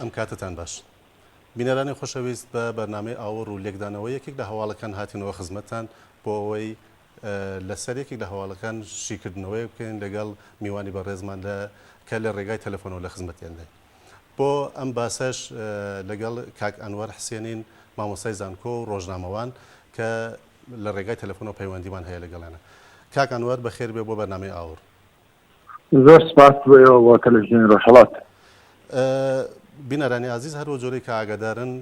ئەم کاتەتان باش بینەرانی خۆشەویست بە بەرنامەی ئاوەڕ و لێکدانەوە یەکێک لە هەواڵەکان هاتینەوە خزمەتتان بۆ ئەوەی لەسەر یەکێک لە هەواڵەکان شیکردنەوەی بکەین لەگەڵ میوانی بەڕێزمان لە کە لە ڕێگای تەلەفۆنەوە لە خزمەتیان دێن بۆ ئەم باسەش لەگەڵ کاک ئەنوەر حسێنین مامۆستای زانکۆ و ڕۆژنامەوان کە لە ڕێگای تەلەفۆنەوە پەیوەندیمان هەیە لەگەڵێنە کاک ئەنوەر بەخێر بێ بۆ بەرنامەی ئاور زۆر سپاس بۆ ئێوە بۆ تەلەفزیۆنی ڕۆژهەڵات. بینەرانی ئازیز هەر وەک جۆرەی کە ئاگادارن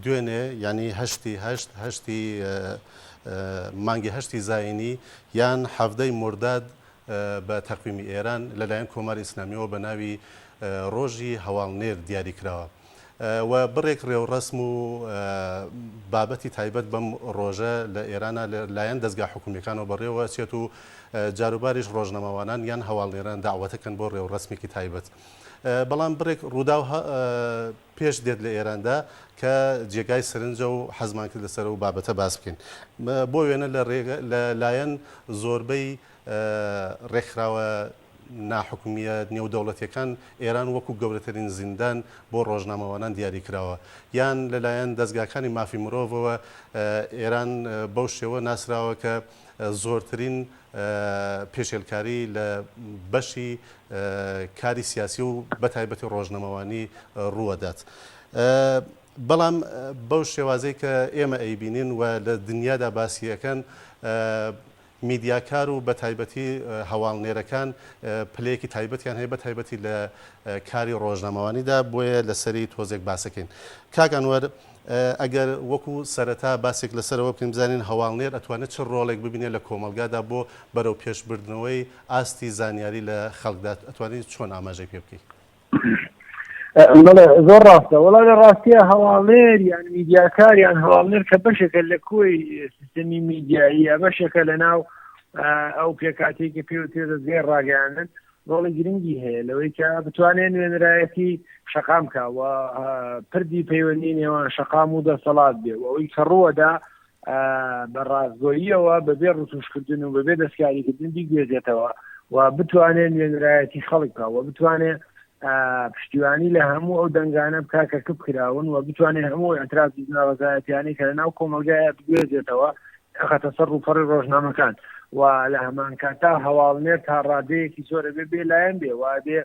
دوێنێ یانی هەشتی هەشت هەشتی مانگی هەشتی زاینی یان حەڤدەی مرداد بە تەقویمی ئێران لەلایەن کۆماری ئیسلامیەوە بە ناوی ڕۆژی هەواڵنێر دیاری کراوە. و بڕێک رێوڕەسم و بابەتی تایبەت بەم رۆژە لە ئێرانا لە لایەن دەزگا حکومیەکانەوە بەڕێوە چێت و جاروباریش رۆژنەماوانان یان هەواڵنێران داوەتەکەن بۆ رێوڕەسمێکی تایبەت بەڵام بڕێک رووداو پێش دێت لە ئێراندا کە جێگای سرنجە و حەزمان کرد لەسەر و بابەتە باس بکەین بۆ وێنە لە لایەن زۆربەی رێکخراوە ناحکومییە نێودەوڵەتییەکان ئێران وەکو گەورەترین زیندان بۆ ڕۆژنامەوانان دیاری کراوە یان لەلایەن دەزگاکانی مافی مرۆڤەوە ئێران بەو شێوە ناسراوە کە زۆرترین پێشێلکاری لە بەشی کاری سیاسی و بەتایبەتی ڕۆژنەمەوانی ڕووەدات. بەڵام بەو شێوازەی کە ئێمە ئەیبینین و لە دنیادا باسیەکەن میدیاکار و بە تایبەتی هەواڵنێرەکان پلەیەکی تایبەتیان هەیە بە تایبەتی لە کاری ڕۆژنامەوانیدا بۆیە لەسەری تۆزێک باسەکەین کاک ئەنوەر ئەگەر وەکو سەرەتا باسێک لەسەرەوە بکەین بزانین هەواڵنێر ئەتوانێت چ ڕۆڵێک ببینێت لە کۆمەڵگادا بۆ بەرەو پێشبردنەوەی ئاستی زانیاری لە خەڵکدا ئەتوانی چۆن ئاماژەی پێ بکەی؟ زۆر ڕاستە وڵا لە ڕاستە هەواڵێر یان میدیاکاریان هەواڵێر کە بەشێکە لە کۆی سیستەمی میدیاییە بەشێکە لە ناو ئەو پێکاتێکی پێ تێ دەستگای ڕاگەیاندن ڕۆڵی گرنگی هەیە لەوەی کە بتوانێت نوێنەرایەتی شقام کاوە پردی پەیوەندی نێوان شقام و دەسەڵات بێ ئەوی کە ڕووەدا بە ڕاستگۆییەوە بەبێ ڕتوشکردن و بەبێ دەستکاریکردن بیگوێزێتەوە و بتوانێت نوێنرایەتی خەڵک بکە و بتوانێت پشتیوانی لە هەموو ئەو دەنگانە بکە کە کپ کراون و بتوانێت هەموو ئەتراف ناڕزایەتیانی کە لە ناو کۆمەلگایە بگوێزێتەوە خەتە سەر ڕووپەڕی ڕۆژنامەکان و لە هەمان کاتا هەواڵنێر تا ڕادەیەکی زۆرە بێ بێ لایەن بێ وادێ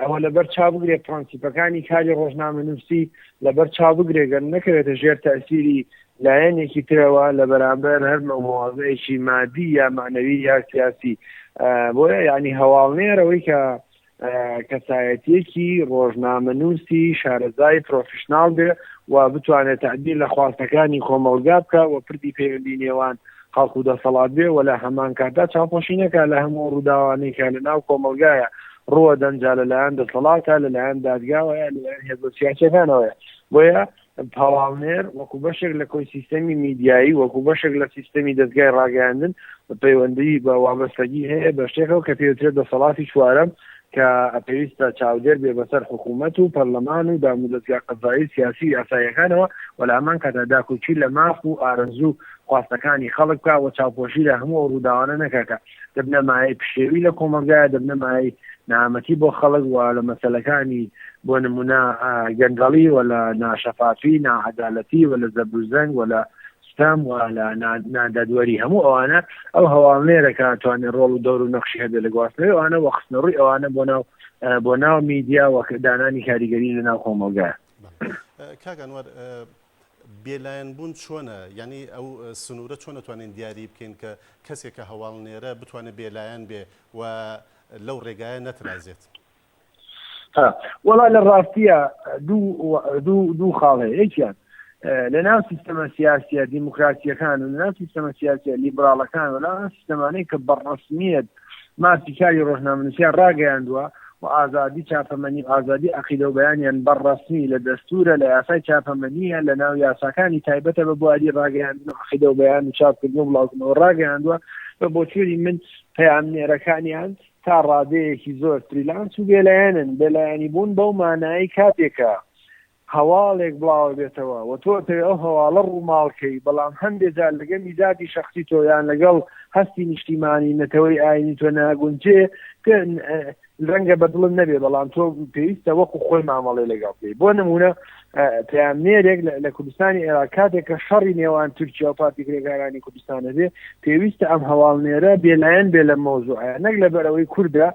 ئەوە لەبەر چا بگرێت پرۆنسیپەکانی کاری ڕۆژنامە نووسی لەبەر چاو بگرێ گەر نەکەوێتە ژێر تەئسیری لایەنێکی ترەوە لە بەرامبەر هەر نۆع موازەیەکی مادی یا مەعنەوی یا سیاسی بۆیە یانی هەواڵنێر ئەوەی کە کەسایەتیەکی ڕۆژنامەنووسی شارەزای پرۆفیشنال بێ و بتوانێت تعبیر لە خواستەکانی کۆمەڵگا بکە و پردی پەیوەندی نێوان خەڵک و دەسەڵات بێ و لە هەمانکاتدا چاوپۆشی نەکا لە هەموو ئەو ڕووداوانەی کە لە ناو کۆمەڵگایە ڕووەدەن جا لە لایەن دەسەڵاتە لە لایەن دادگاوە یا لە لایەن هێزە سیاسیەکانەوەیە بۆیە پاڵاونێر وەکو بەشێک لە کۆی سیستەمی میدیایی وەکو بەشێک لە سیستەمی دەستگای ڕاگەیاندن پەیوەندی بە وابەستەگی هەیە بە شتێکەوە کە پێوترێت دەسەڵاتی چوارەم کە پێویستە چاودێر بێ بەسەر حکوومەت و پەرلەمان و دامودەزگا قەزایی و سیاسی و یاساییەکانەوە و لە هەمان کاتدا داکۆکی لە ماف و ئارەزوو و خواستەکانی خەڵک بکا و چاوپۆشی لە هەموو ئەو ڕووداوانە نەکا کە دەبنە مایەی پشێوی لە کۆمەڵگایە دەبنە مایەی نەهامەتی بۆ خەڵک و لە مەسەلەکانی بۆ نموونە گەندەڵی و لە ناشەفافی ناعەدالەتی و لە زەبروزەنگ و لە ستەم و لە نادادوەری هەموو ئەوانە ئەو هەواڵنێرە کە توانێت ڕۆڵ و دەور و نەخشی هەبێت لە گواستنەوەی ئەوانە و خستنە ڕووی ئەوانە بۆ ناو بۆ ناو میدیا و دانانی کاریگەری لە ناو کۆمەڵگە کاگەنوەر بێلایەن بوون چۆنە یعنی ئەو سنوورە چۆن نتوانین دیاری بکەین کە کەسێکە هەواڵ نێرە بتوانێت بێلایەن بێ و لەو ڕێگایە نەترازێت وڵا لە ڕاستە دوو خاڵ هەیە یەکیان لە ناو سیستەمە سیاسە دیموکراسیەکان و لە سیستەمە سیاسە لیبراڵەکان و لە سیستەمانەی کە بەڕسمیت ماسی کاری ڕۆژنامنووسیا ڕاگەیاندووە و ئازادی چاپەمەنی ئازادی عقیدە و بەیانیان بەڕسمی لە دەستورە لە یاسای چاپەمەنیە لە ناو یاساکانی تایبەتە بە بواری ڕاگەیان عقیدە و بەیان و چاپکردن و بڵاوکردنەوە ڕاگەیاندووە بە بۆچووری من پەیامنێرەکانیان تا ڕادەیەکی زۆر فریلانس و بێلایەنن، بێلایەنیبوون بەو مانایەی کاتێکە هەواڵێک بڵاوەبێتەوە و تۆ ئەتەوێ ئەو هەواڵە ڕووماڵ کەی، بەڵام هەندێ جار لەگەلی زاتی شەخسی تۆ یان لەگەڵ هەستی نیشتیمانی، نەتەوەی، ئاینی تۆ ناگونجێ، ڕەنگە بەدڵت نەبێ بەڵام تۆ پێویستە وەکو خۆی مامەڵەی لەگەڵ بکەی، بۆ نموونە پەیامنێرێک لە کوردستانی عێراق کاتێک کە شەڕی نێوان تورکیا و پارتی کرێکارانی کوردستانە بێ پێویستە ئەم هەواڵنێرە بێلایەن بێ لە مۆزوعە نەک لە بەرەوەی کووردە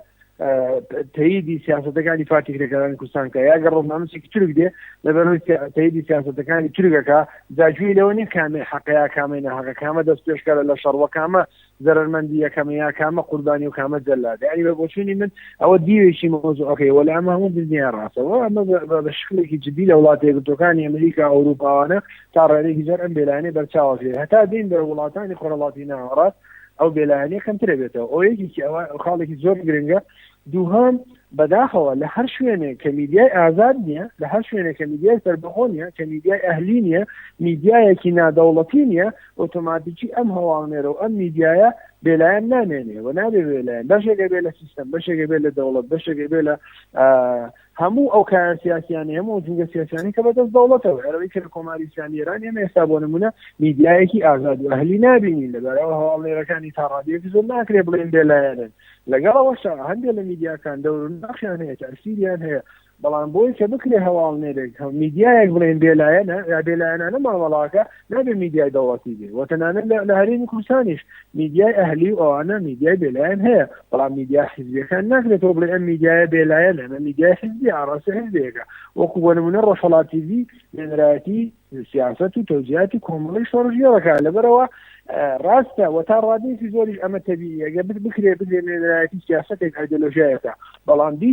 تەیدی سیاستەکانی پارتی کرێکارانی کوردستان کە یاگە ڕۆژنامەسێکی تورک دێ لە بەرەوەی تەیدی سیاستەکانی تورکەکە جاجوی لەوە نیە کامێ حەقەیە کامێ نەهەقە کامە دەست پێشکارە لە شەڕوەکامە زەرەرمەندی یەکەمە یا کامە قوربانی و کامە جەلادە یانی بە بۆچوونی من ئەوە دیوێکی مەوزوعەکەی وەلێ ئەمە هەموو دنیای ڕاستە و ئەمە بە شکلێکی جدی لە وڵاتە یەکگرتووەکانی ئەمریکا ئەوروپاوانە تا ڕادەیەکی زۆر ئەم بێلایەنەی بەرچاوە کرێ هەتا دێین بە وڵاتانی خۆرهەڵاتی ناوەڕاست ئەو بێلایەنەی کەمترە بێتەوە ئەو یەکێکی ئەوە خاڵێکی زۆر گرنگە دووهەم، بەداخەوە لە هەر شوێنێک کە میدیای ئازاد نییە، لە هەر شوێنێک کە میدیای سەربەخۆ نییە، کە میدیای ئەهلی نییە، میدیایەکی نادەوڵەتی نییە، ئۆتۆماتیکی ئەم هەواڵنێرە و ئەم میدیایە بێلایەن نامێنێ و نابێ بێلایەن، بەشێک ئەبێ لە سیستەم، بەشێک ئەبێ لە دەوڵەت، بەشێک ئەبێ لە هەموو ئەو کایە سیاسیانی هەموو ئەو جوگە سیاسیانی کە بەدەست دەوڵەتەوە ئەرەوەی کە کۆماری سیانی ئێران ئێمە ئێستا بۆ نمونە میدیایەکی ئازاد و ئەهلی نبینین لەبارەوە هەواڵێرەکانی تا ڕادیەکی زۆر ناکرێ بڵێن بێلایەنن لەگەڵەوەشە هەندێک لە میدیاکان دەور ناخیان هەیە تاسیریان هەیە بەڵام بۆی کە بکرێ هەواڵ نێرێک هەم میدیایەک بڵێن بێلایەنە یا بێلایەنانە مامەڵاکە نابێ میدیای دەوڵەتی بێ و تەنانە لە هەرێمی کوردستانیش میدیای ئەهلی و ئەوانە میدیای بێلایەن هەیە بەڵام میدیا حیزبیەکان ناکرێتەوە بڵێ ئەم میدیایە بێلایەن ئەمە میدیای حیزبی ئاڕاستە حزبێکە وەکو بۆ نمونە ڕۆژهڵاتیوی نێنراتی سیاست و تەوزیاتی کۆمەڵی شۆڕژیەوەکە لەبەرەوە ڕاستە و تا ڕادێکی زۆریش ئەمە تەبیەگە بت بکرێ بگرێ نێنراتی سیاستێک ئایدۆلۆژایەکە بەڵام دی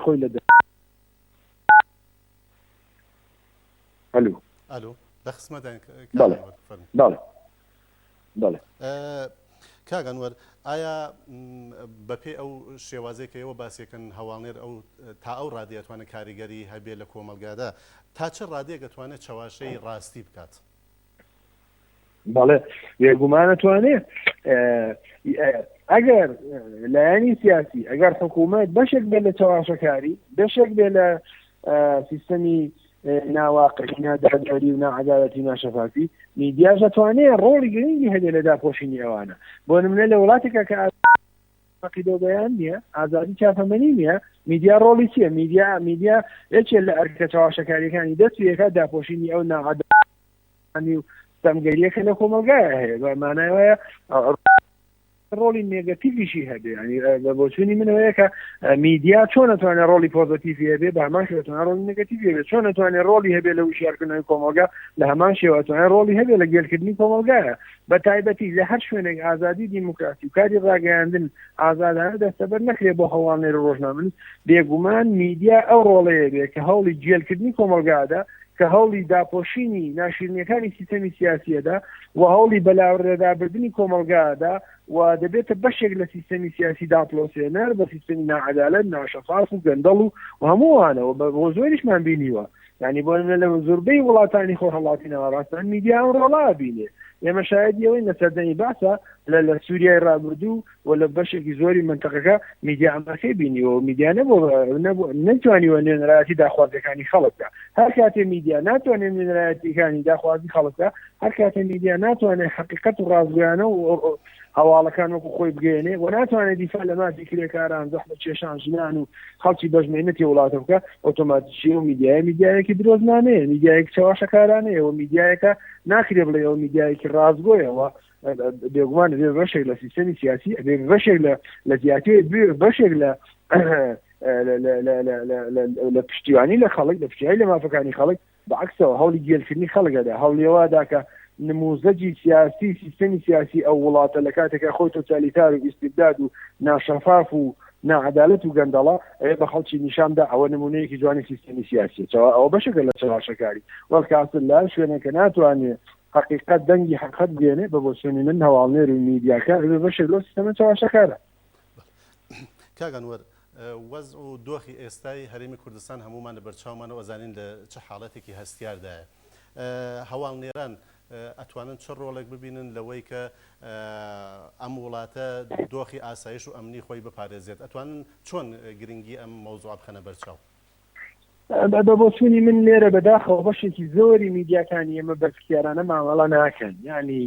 خۆی لە دە ئەلو. ئەلو لە خسمەتداین کاک ئەنوەر فەرموو. بەڵێ بەڵێ کاک ئەنوەر ئایا بەپێی ئەو شێوازێک کە ئێوە باسیەکەن هەواڵنێر ئەو تا ئەو ڕادێ ئەتوانێت کاریگەری هەبێ لە کۆمەلگادا تا چ ڕادێک ئەتوانێت چەواشەی ڕاستی بکات؟ بەڵێ بێگومانە توانێ ئەگەر لایەنی سیاسی ئەگەر حکوومەت بەشێک بێ لە چاواشەکاری بەشێک بێ لە سیستەمی ناواقعی ناداداری و ناعادالەتی ناشەفافی میدیا دەتوانێت ڕۆڵی گرنگی هەبێ لە داپۆشینی ئەوانە بۆ نمونە لە وڵاتێکە کە عقیدە بەیان نییە ئازادی چاپەمەنی نییە میدیا ڕۆڵی چیە میدیا میدیا یەکێ لە ئەرکە چاواشەکاریەکانی دەست یەکە داپۆشینی ئەو ناعادالەتی ئەنی و سەنگەریەکە لە کۆمەلگایە هەیە بە مانای وایە ڕۆڵی نێگەتیڤیشی هەبێ ینی بە بۆچوونی منەوەیە کە میدیا چۆن نتوانێت ڕۆڵی پۆزتیڤ هەبێ بە هەمان شێتوان ڕۆڵی نگەتیڤ هەبێ چۆن نتوانێت ڕۆڵی هەبێ لە وشارکردنەوەی کۆمەلگا لە هەمان شێواتوان ڕۆڵی هەبێ لە گێلکردنی کۆمەلگایە بە تایبەتی لە هەر شوێنێک ئازادی دیموکراسی و کاری ڕاگەیاندن ئازادانە دەستەبەر نەکرێ بۆ هەواڵنێر ڕۆژنامن بێگومان میدیا ئەو ڕۆڵەیە بێ کە هەوڵی گێلکردنی کۆمەلگادا کە هەوڵی داپۆشینی ناشیرنیەکانی سیستەمی سیاسی ئەدا و هەوڵی بەلاوەرلەدابردنی کۆمەڵگا ئەدا و دەبێتە بەشێک لە سیستەمی سیاسی داپڵۆسێنەر بە سیستەمی ناعەدالەت ناشەفاف و گەندەڵ و و هەموو ئەوانەوە بە بۆ زۆریشمان بینیوە یعنی بۆ نمونە لە زۆربەی وڵاتانی خۆرهەڵاتی ناوەڕاستمان میدیا ئەم ڕۆڵە ئەبینێ ئێمە شایەدی ئەوەین لە سەردەمی بەعسا لە لە سووریای ڕابردوو و لە بەشێکی زۆری مەنتەقەکە میدیا ئەمەکەی بینیوە و میدیا نەبوو نەتوانیوە نوێنەرایەتی داخوازەکانی خەڵکدا هەر کاتێ میدیا ناتوانێت نوێنەرایەتیەکانی داخوازی خەڵکدا هەر کاتێ میدیا ناتوانێت حقیقت و ڕازگویانە و هەواڵەکان وەکو خۆی بگەێنێ و ناتوانێت دیفا لە مافی کرێکاران زەحمە کێشان ژنان و خەڵکی بەژمێنەتی وڵاتە بکە ئۆتۆماتیکی و میدیای میدیایەکی درۆزنانەیە میدیایەک چاواشەکارانەیە و میدیایەکە ناکرێ بڵێ ئەو میدیایەکی ڕازگۆیەوە بێگومان بێ بەشێک لە سیستەمی سیاسی ئەبێ بەشێک لە لە زیاتێ بەشێک لە لە پشتیوانی لە خەڵک لە پشتیوانی لە مافەکانی خەڵک بەعکسەوە هەولی گێلکردنی خەڵگەدا هەوڵێوا داکە نموزەجی سیاسی سیستەمی سیاسی ئەو وڵاتە لە کاتێکە خۆی تۆتالیتار و ئیسیبداد و ناشەفاف و ناعدالت و گەندەڵە ئەوێ بە خەڵکی نیشاندا ئەوە نمونەیەکی جوانی سیستەمی سیاسی چاوە ئەو بەشەکە لە چەواشەکاری وەڵکاس لا شوێنەکە ناتوانێت هەقیقەت دەنگی حەقت بێنێ بە بۆچوونی من هەواڵنێر و میدیاکان ببێ بەشێک لەو سیستەمە چەواشەکارە. کاک ئەنوەر وەزع و دۆخی ئێستای هەرێمی کوردستان هەموومان لە بەرچاومانە و ئەزانین لە چ حاڵەتێکی هەستیاردایە. هەواڵنێران ئەتوانن چ ڕۆڵێک ببینن لەوەی کە ئەم وڵاتە دۆخی ئاسایش و ئەمنی خۆی بپارێزێت؟ ئەتوانن چۆن گرنگی ئەم مەوزوعە بخەنە بەرچاو؟ بە بۆچوونی من لێرە بەداخەوە بەشێکی زۆری میدیاکانی ئێمە بەرپسیارانە مامەڵە ناکەن ینی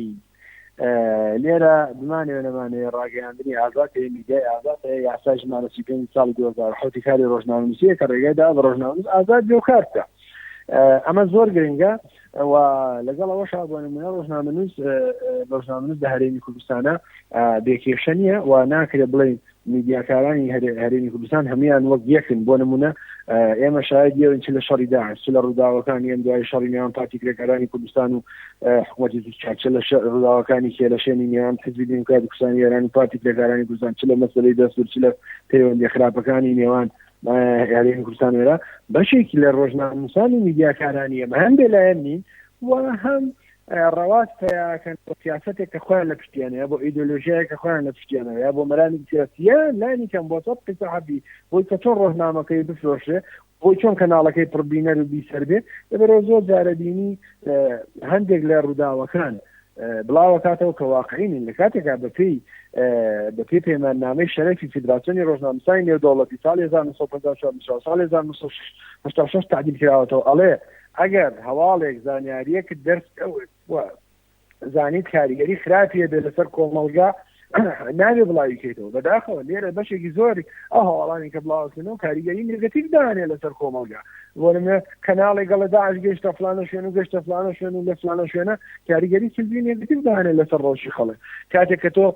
لێرە بمانەوە نەمانەیە ڕاگەیاندنی ئازاد هەیە میدیای ئازاد هەیە یاسای ژمارە سی پێنج ساڵی دو هەزار حوتی کاری ڕۆژنامەنووسیە کە ڕێگەدا بە ڕۆژنامەنووس ئازاد بێ و کار بکە ئەمە زۆر گرنگە و لەگەڵ ئەوە شابووانە منە ڕۆژنامەنووس ڕۆژنامەنووس لە هەرێمی کوردستانە بێکێشە نیە و ناکرێت بڵێن میدیاکارانی هەرێمی کوردستان هەموان وەک یەکن بۆ نمونە ئێمە شایدی ئەوین چ لە شەڕی داعش چ لە ڕووداوەکانی ئەم دوای شەڕی نێوان پارتی کرێکارانی کوردستان و حکوومەتی تورکیا چ لە ڕووداوەکانی کێلەشێنی نێوان حزبی دیموکراتی کوردستانی ئێران و پارتی کرێکارانی کوردستان چ لە مەسلەی دەستور چ لە پەیوەندی خراپەکانی نێوان هەرێمی کوردستان وێرا بەشێکی لە ڕۆژنامەنووسان و میدیاکارانی ئێمە هەم بێلایەن نین و هەم ڕەواز پیاکەن بۆ سیاسەتێک کە خۆیان لە پشتیانە یا بۆ ئیدۆلۆژیایە کە خۆیان لە پشتیانەوە یا بۆ مەرامی سیاسیە لانی کەم بۆ سەد قسە حەبی بۆی کە چۆن ڕۆژنامەکەی بفرۆشێ بۆی چۆن کەناڵەکەی پڕبینەر و بیسەر بێ لەبەرەوە زۆر جارەبینی هەندێک لە ڕووداوەکان بڵاوەکاتەوە کە واقعینین لە کاتێکا بەپی بەپی پەیماننامەی شەرەفی فیدراسیۆنی ڕۆژنامسای نێودەوڵەتی ساڵ 1950 ساڵ 1960 تعدیل کراوەتەوە ئەڵێ ئەگەر هەواڵێک زانیاریەکت دەرکەوت و زانیت کاریگەری خراپی هەبێت لەسەر کۆمەڵگا ناوێ بڵاوی کەیتەوە بەداخەوە لێرە بەشێکی زۆر ئەو هەواڵانی کە بڵاوکردن و کاریگەری نگەتیف دانێ لەسەر کۆمەڵگا وەرمێ کەناڵی گەڵە داعش گەشتە فلانە شوێن و گەشتە فلانە شوێن و لە فلانە شوێنە کاریگەری سلبی نگەتیف دانێ لەسەر ڕۆژی خەڵک کاتێک کە تۆ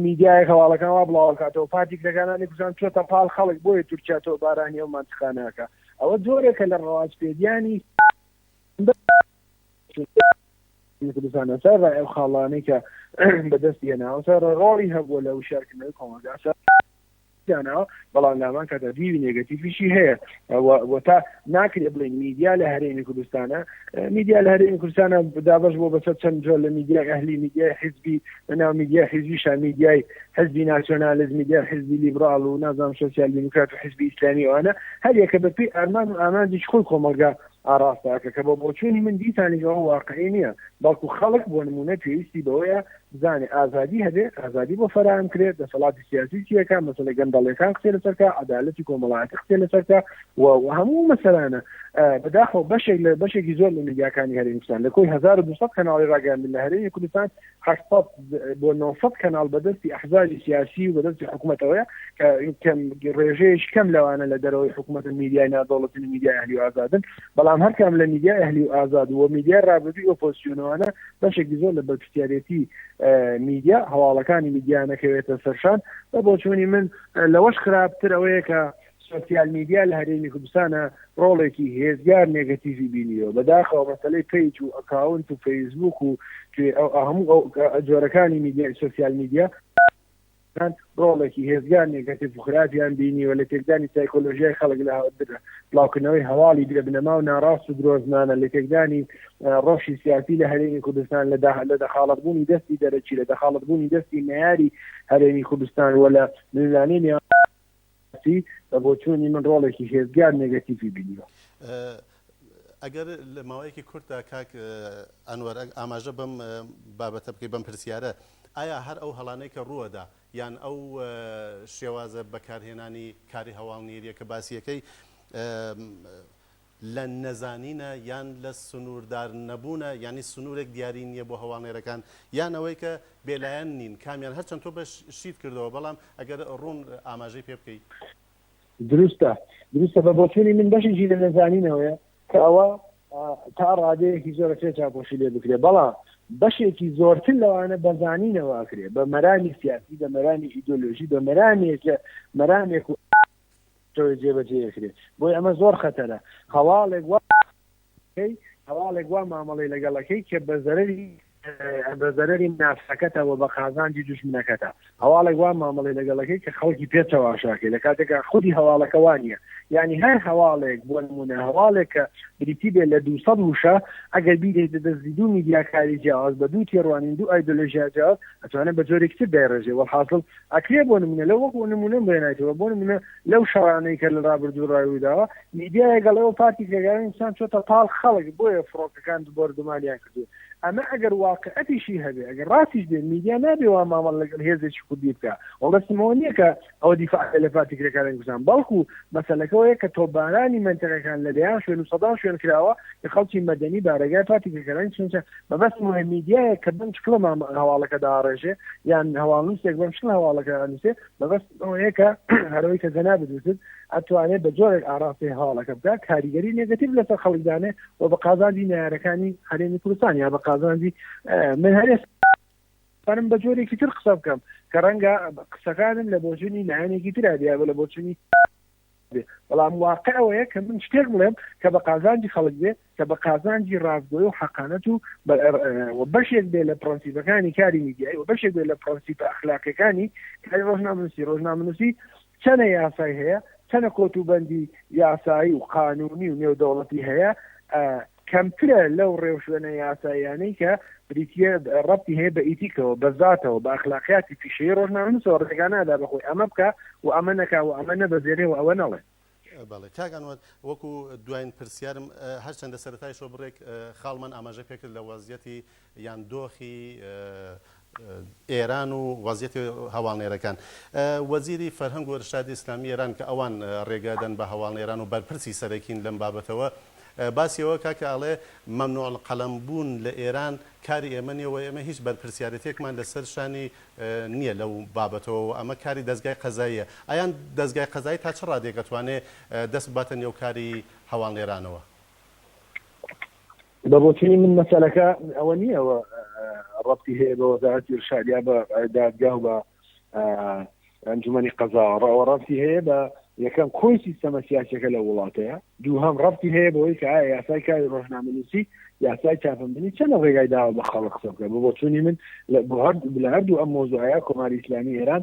میدیای هەواڵەکان وا بڵاوکاتەوە پارتی کرەکانانی کوردستان چۆتە پاڵ خەڵک بۆیە تورکیا تۆ بارانی ئەو مانتخانەکە ئەوە جۆرێکە لە ڕەواجپێگیانی کوردستانەسەر ئەو خاڵانەی کە بەدەست هێناوەسەر ڕۆڵی هەبووە لە وشارکردنەوەی کۆمەلگاسە داناوە بەڵام لامان کاتە دیوی نێگەتیفیشی هەیە وە تا ناکرێت بڵین میدیا لە هەرێمی کوردستانە میدیا لە هەرێمی کوردستانە دابش بۆ بەسەر چەند جۆر لە میدیای ئەهلی میدیای حزبی لە ناو میدیای حیزبیشا میدیای حزبی ناسیۆنالز میدیا حزبی لیبرال و نازام سوسیال دیموکرات و حزبی ئیسلامی وانە هەر یەکە بە پێی ئەرمان و ئامانجی خۆی کۆمەلگا ئاراستاکە کە بە بۆچوونی من دیسانی ئەوە واقعی نییە بەڵکو خەڵک بۆ نمونە پێویستی بەوەیە بزانێ ئازادی هەبێ ئازادی بۆ فەراهم کرێت دەسەڵاتی سیاسی چیەکە مەسلە گەندەڵەکان قسێ لەسەرکە عدالەتی کۆمەڵایەتی قسێ لەسەرکە و هەموو مەسەرانە بەداخەوە بەشێک لە بەشێکی زۆر لە میدیاکانی هەرێمستان لە کۆی 1200 کەناڵی ڕاگەاندن لە هەرێمی کوردستان هەشت سەد بۆ نۆ سەد کەناڵ بەدەستی ئەحزابی سیاسی و بەدەستی حکومەتەوەیە کە کەم ڕێژەیەکی کەم لەوانە لە دەرەوەی حکومەتن میدیای نادەوڵەتین و میدیای ئەهلی و ئازادن بەڵام هەرکام لە میدیای ئەهلی و ئازاد و میدیای ڕابردووی ئۆپۆزسیۆنەوانە بەشێکی زۆر لە بەرپرسیارێتی میدیا هەواڵەکانی میدیا نەکەوێتە سەرشان بە بۆچوونی من لەوەش خراپتر ئەوەیە کە سۆسیال میدیا لە هەرێمی کوردستانا ڕۆڵێکی هێجگار نێگەتیڤی بینیوە بەداخەوە مەسەلەی پەیج و ئەکاونت و فەیسبووک و توێ ئەو هەموو ئەو جۆرەکانی میدیای سۆسیال میدیا کان ڕۆڵێکی هێزگار نێگەتیڤ و خراپیان بینیوە لە تێکدانی سایکۆلۆژیای خەڵک لە بڵاوکردنەوەی هەواڵی بێ بنەما و ناڕاست و درۆزنانە لە تێکدانی ڕۆشی سیاسی لە هەرێمی کوردستان لە لە دەخاڵت بوونی دەستی دەرەکی لە دەخاڵت بوونی دەستی نەیاری هەرێمی کوردستان وە لە نزانانی سیاسی لە بۆچوونی من ڕۆڵێکی هێزگار نێگەتیڤی بینیوە. ئەگەر لە ماوەیەکی کورتدا کاک ئەنوەر ئاماژە بەم بابەتە بکەی بەم پرسیارە ئایا هەر ئەو هەڵانەی کە ڕووەدا یان ئەو شێوازە بەکارهێنانی کاری هەواڵنێریە کە باسیەکەی لە نەزانینە یان لە سنووردار نەبوونە یانی سنوورێک دیاری نییە بۆ هەواڵنێرەکان یان ئەوەی کە بێلایەن نین کامیان هەرچەند تۆ بەش شیت کردەوە بەڵام ئەگەر ڕوون ئاماژەی پێ بکەی. دروستە دروستە بە بۆچوونی من بەشێکی لە نەزانینەوەیە کە ئەوە تا ڕادەیەکی زۆر ئەکرێ چاوپۆشی لێ بکرێ بەڵام بەشێکی زۆرتر لەوانە بە زانینەوە ئەکرێ بە مەرامی سیاسی بە مەرامی ئیدۆلۆژی بە مەرامێکە مەرامێک و شەوێ جێ بە جێ ئەکرێ بۆیە ئەمە زۆر خەتەرە هەواڵێک وا کەی هەواڵێک وا مامەڵەی لەگەڵ ئەکەی کە بە زەرەری بە زەرەری ناسەکەتە و بە قازانجی دوژمنەکەتە هەواڵێک وا مامەڵەی لەگەڵ ئەکەی کە خەڵکی پێ چەواشاکەی لە کاتێکا خودی هەواڵەکە وا نییە یعنی هەر هەواڵێک بۆ نمونە هەواڵێک کە بریتی بێ لە دوو سەد وشە ئەگەر بیرێ دە دەستی دوو میدیاکاری جیاواز بە دوو تێڕوانین دوو ئایدۆلۆژیا جیاواز ئەتوانێت بە جۆرێکی تر دایڕێژێ وەڵحاسڵ ئەکرێ بۆ نمونە لە وەک نمونەم بێنایتەوە بۆ نمونە لەو شەڕانەی کە لە ڕابردوو ڕای وداوە میدیای گەڵ ئەو پارتی کرێگارانی کوردستان چۆتە پاڵ خەڵک بۆیە فڕۆکەکان بۆردومانیان کردو ئەمە ئەگەر واقعەتیشی هەبێ ئەگەر ڕاستیش بێ میدیا نابێ وا مامەڵ لەگەڵ هێزێکی کوردی بکە وەڵستمەوە نییە کە ئەوە دیفاع لە پارتی کرێکارانی کوردستان بەڵکو مەسەلەکەەوەیە کە تۆبارانی منتەقەکان لە دەیان شوێن و سەدان شوێن کراوە کە خەڵکی مەدەنی بارەگای پارتی کرێکارانی چونچە مەبەستم ئەوەیە میدیایەک کە بەم شکڵە هەواڵەکە داڕێژێ یان هەواڵنووسێک بەم شکڵ هەواڵەکە ئەنووسێ مەبەستم ئەوەیە کە هەرەوەی کە جەنابت وتت ئەتوانێت بە جۆرێک ئاراستەی هەواڵەکە بکە کاریگەری نێگەتیڤ لەسەر خەڵک دانێ و بە قازانجی نەیارەکانی هەرێمی کوردستان یا بە قازانجی من هەرێ بەرم بە جۆرێکی تر قسە بکەم کە ڕەنگە قسەکانم لە بۆچوونی لایەنێکی ترا بیا بە لە بۆچوونی بێ بەڵام واقع ئەوەیە کە من شتێک بڵێم کە بە قازانجی خەڵک بێ کە بە قازانجی ڕاستگۆی و حەقانەت و بەشێک بێ لە پرەنسیبەکانی کاری میدیایی و بەشێک بێ لە پرەنسیپە ئەخلاقەکانی کاری ڕۆژنامەنووسی ڕۆژنامەنووسی چەنە یاسای هەیە چەنە کۆتوبەندی یاسایی و قانونی و نێودەوڵەتی هەیە کەمترە لەو ڕێوشوێنە یاساییانەی کە بریتییە ڕەبتی هەیە بە ئیتیکەوە، بە زاتەوە، بە ئەخلاقیاتی پیشەیی ڕۆژنامەنووسەوە ڕێگا نادا بە خۆی ئەمە بکا و ئەمە نەکا و ئەمە نەبەزێنێ و ئەوە نەڵێ. بەڵێ کاک ئەنوەر، وەکوو دوایین پرسیارم، هەرچەندە سەرەتایشەوە بڕێک خاڵمان ئاماژە پێ کرد لە وەزعیەتی یان دۆخی ئێران و وەزیەتی هەواڵنێرەکان وەزیری فەرهەنگ و ئرشادی ئیسلامی ئێران کە ئەوان رێگە دەن بە هەواڵنێران و بەرپرسی سەرەکین لەم بابەتەوە باسی ئەوە کا کە ئەڵێ ممنوع القلم بوون لە ئێران کاری ئێمە نیە و ئێمە هیچ بەرپرسیارێتێکمان لە سەر شانی نیە لەو بابەتەوە و ئەمە کاری دەزگای قەزاییە ئەیان دەزگای قەزایی تا چ رادێک ئەتوانێ دەست بباتە نێو کاری هەواڵنێرانەوە؟ بە بۆچونی من مەسەلەکە ئەوە نییە و ڕەتی هەیە بە وەزارەتی ڕشاد یا بە دادگا و بە ئەنجومی قەزاوەڕەوە ڕەتی هەیە بە یەکەم کۆی سیستەمە سیاسەکە لە وڵاتەیە دوو هەم ڕەتی هەیە بەوەی کە ئایا یاسای کاری ڕۆژنامەنووسی یاسای چاپمبنی چەنە ڕێگای داوە بە خەڵک قسە بکە بۆ چونی من لە بۆ هەر لە هەردوو ئەم مۆزوعە کۆماری ئیسلامی ئێران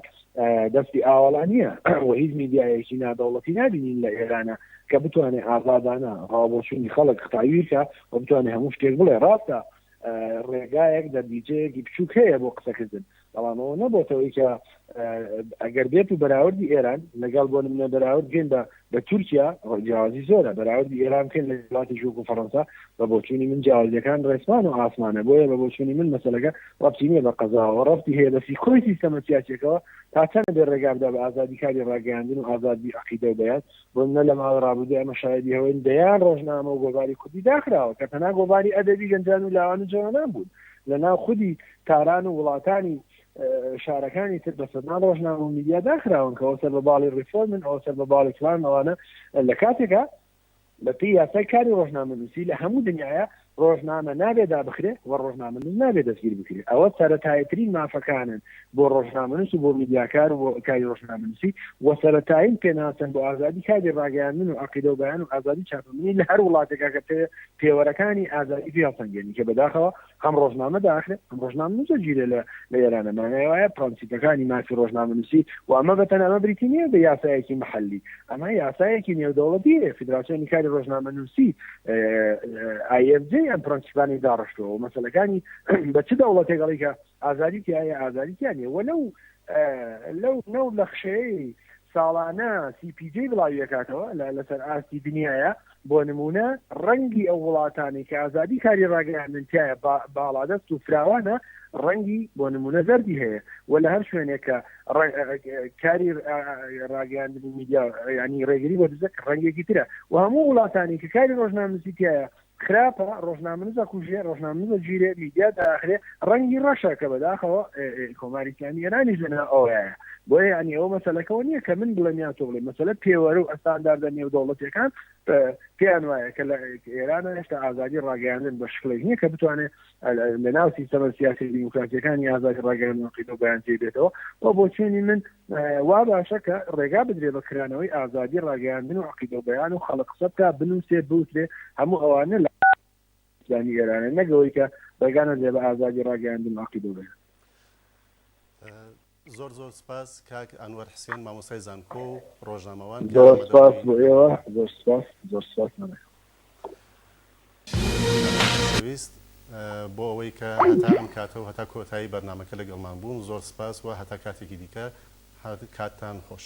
دەستی ئاوەڵا نییە و هیچ میدیایەکی نادەوڵەتی نابینین لە ئێرانە کە بتوانێت ئازادانە ڕاوبۆچوونی خەڵک قوتابی بکە و بتوانێت هەموو شتێک بڵێ ڕاستە ڕێگایەک دەربیجەیەکی بچووک هەیە بۆ قسەکردن بەڵامەوە نەبتەوەی کە ئەگەر بێت و بەراوردی ئێران لەگەڵ بۆ منە بەراورد بێن بە بە تورکیا جیاوازی زۆرە بەراوردی ئێران بکەین لە وڵاتێکی وەکو فەڕەنسا بە بۆچوونی من جیاوازیەکان ڕێسمان و ئاسمانە بۆیە بە بۆچوونی من مەسەلەکە ڕەبتی نییە بە قەزاوە ڕەبتی هەیە بە فیکۆی سیستەمە سیاسیەکەوە تا چەنە بێ ڕێگا بدا بە ئازادی کاری ڕاگەیاندن و ئازادی عەقیدە و بەیان بۆ منە لە ماوەی ڕابردوو ئەمە شایەدی هەوەین دەیان ڕۆژنامە و گۆڤاری کوردی داخراوە کە تەنها گۆڤاری ئەدەبی گەنجان و لاوان و جەوانان بوون لە ناو خودی تاران و وڵاتانی شارەکانی تر بە سەدان ڕۆژنامە و میدیا داخراون کەەوە سەر بە باڵی ڕیفۆرمن ئەو سەر بە باڵی فلان ئەوانە لە کاتێکە بە پێی یاسای کاری ڕۆژنامە نووسی لە هەموو دنیاە ڕۆژنامە نابێدا بخرێ و ڕۆژنامە نووس نابێ دەستگیر بکرێ ئەوە سەرەتایترین مافەکانن بۆ ڕۆژنامە نووس و بۆ میدیاکار و کاری ڕۆژنامە نووسی و سەرەتایین پێناسن بۆ ئازادی کاری ڕاگەیاندن و عقیدە و بەیان و ئازادی چاپەمەنی لە هەر وڵاتێکا کە پێوەرەکانی ئازادی پێسەنگێنی کە بەداخەوە ئەم ڕۆژنامە داخرێ، ئەم ڕۆژنامەنووسە گیرێ لە ئێرانە، مانای وایە پڕەنسیپەکانی مافی ڕۆژنامەنووسی و ئەمە بە تەنها ئەمە بریتی نییە بە یاسایەکی محەلی، ئەمە یاسایەکی نێودەوڵەتییە، فیدراسیۆنی کاری ڕۆژنامەنووسی، IFJ، ئەم پڕەنسیپانەی داڕشتووە و مەسەلەکانی بە چ دەوڵەتێک ئەڵێی کە ئازادی تیایە، ئازادی تیا نییە و لەو لەو نەوت لەخشەیەی ساڵانە سی پی جەی بڵاویەکاتەوە لەسەر ئاستی دنیایە بۆ نمونە ڕەنگی ئەو وڵاتانی کە ئازادی کاری ڕاگەیاندن تایە باڵادەست و فراوانە ڕەنگی بۆ نمونە زەردی هەیە و لە هەر شوێنێک کە کاری ڕاگەیاندن میدیا ینی ڕێگری بۆ دزەک ڕەنگێکی ترە و هەموو وڵاتانی کە کاری ڕۆژنامسی تایە خراپە ڕۆژنامەنووس ئەکوژێ، ڕۆژنامەنووس ئەگیرێ، میدیا دائەخرێ، ڕەنگی ڕەشە کە بەداخەوە کۆماری ئیسلامی ئێرانیش لەناو ئەوەیە. بۆیە یانی ئەوە مەسەلەکە ئەوە نییە کە من بڵێم یان تۆ بڵێی، مەسەلە پێوەرە و ئەستانداردە نێودەوڵەتییەکان پێیان وایە کە لە ئێران هێشتا ئازادی ڕاگەیاندن بە شکڵێک نییە کە بتوانێ لە ناو سیستەمە سیاسیە دیموکراسیەکانی ئازادی ڕاگەیاندن کردن و بەیان جێ بێتەوە و بۆ چێنی من وا باشە کە ڕێگا بدرێ بە کرانەوەی ئازادی ڕاگەیاندن و عقید و بەیان و خەڵق قسە بکە بنووسێ بوترێ هەموو ئەوانە لە ئیسلامی ئێرانە نەگەوەی کە ڕێگانە دێ بە ئازادی ڕاگەیاندن و عقید و بەیان زۆر زۆر سپاس کاک ئەنوەر حسێن مامۆستای زانکۆ و ڕۆژنامەوان کە زۆر ئامادە سپاس بووی. بۆ ئێوە زۆر سپاس زۆر سپاس مامە گیان. مامۆستای خۆشەویست بۆ ئەوەی کە هەتا ئەم کاتە و هەتا کۆتایی بەرنامەکە لەگەڵمان بوون زۆر سپاس و هەتا کاتێکی دیکە کاتتان خۆش.